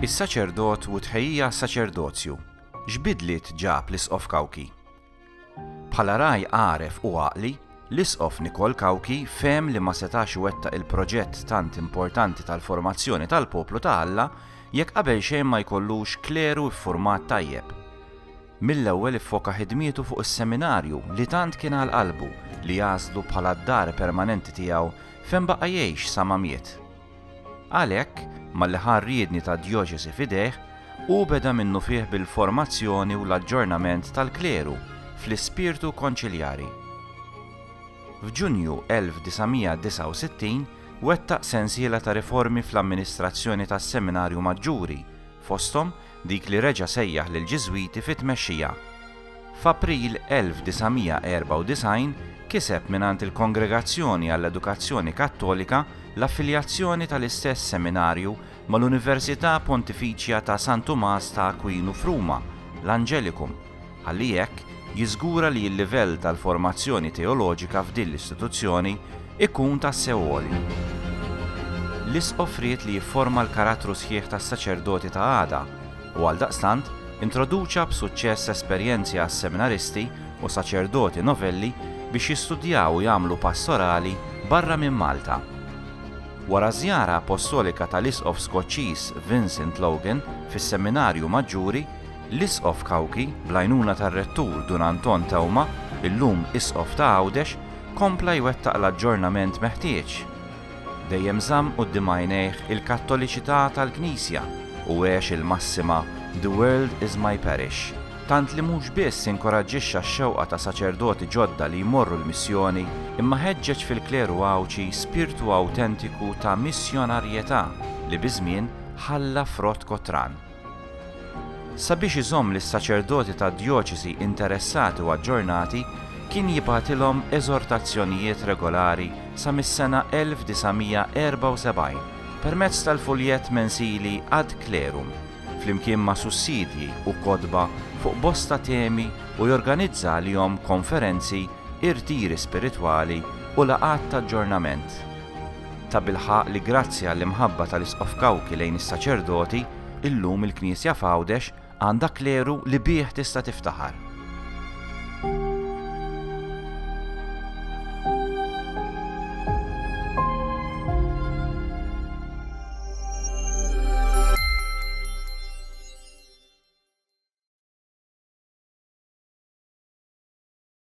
Is-saċerdot u tħejjija saċerdozju x'bidliet ġab l-Isqof Kawki? Bħala raj għaref u għaqli, l-Isqof Nikol Kawki fehem li ma setax iwettaq il-proġett tant importanti tal-formazzjoni tal-poplu ta' Alla jekk qabel xejn ma jkollux kleru ffurmat tajjeb. Mill-ewwel iffoka ħidmietu fuq is-seminarju li tant kien għal qalbu li għażlu bħala d-dar permanenti tiegħu fejn baqa' jgħix sa ma miet. Għalhekk, malli ħa r-riedni tad-djoċesi f'idejh, hu beda minnufih bil-formazzjoni u l-aġġornament tal-kleru fl-ispirtu konċiljari. F'Ġunju 1969 wettaq sensiela ta' riformi fl-amministrazzjoni tas-Seminarju Maġġuri, fosthom dik li reġa' sejjaħ lill-Ġiżwiti fi tmexxija. F'April 1994 kiseb mingħand il-Kongregazzjoni għall-Edukazzjoni Kattolika l-affiljazzjoni tal-istess seminarju mal-Università Pontifiċja ta' San Tumas ta' Akwinu f'Ruma, l-Angelicum, ħalli hekk jiżgura li l-livell tal-formazzjoni teoloġika f'din l-istituzzjoni jkun tassew għoli. L-Isqof ried li jifforma l-karattru sħiħ tas-saċerdoti ta' għada u għaldaqstant introduċa b'suċċess esperjenzi għas-seminaristi u saċerdoti novelli biex jistudjaw u jagħmlu pastorali barra minn Malta. Wara ż-żjara appostolika tal-Isqof Skoċċiż Vincent Logan fis-Seminarju Maġġuri, L-Isqof Cauchi, bl-għajnuna tar-Rettur Dun Anton Theuma, illum Isqof ta' Għawdex, kompla jwettaq l-aġġornament meħtieġ. Dejjem żamm quddiem għajnejh il-Kattoliċità tal-Knisja u għex il-massima The world is my parish, tant li mhux biss inkoraġġixxa x-xewqa ta' saċerdoti ġodda li jmorru l-missjoni, imma ħeġġeġ fil-kleru Għawdxi spirtu awtentiku ta' missjonarjetà li biż-żmien ħalla frott kotran. Sabiex iżomm lis-saċerdoti tad-djoċesi interessati u aġġornati, kien jibgħatilhom eżortazzjonijiet regolari sa mis-sena 1974 permezz tal-fuljett mensili Ad Clerum, flimkien ma' sussidji u kotba fuq bosta temi u jorganizza għalihom konferenzi, irtiri spiritwali u laqgħat t'aġġornament. Tabilħaqq li grazzi għall-imħabba tal-Isqof Cauchi lejn is-saċerdoti, illum il-Knisja f'Għawdex għandha kleru li bih tista' tiftaħar.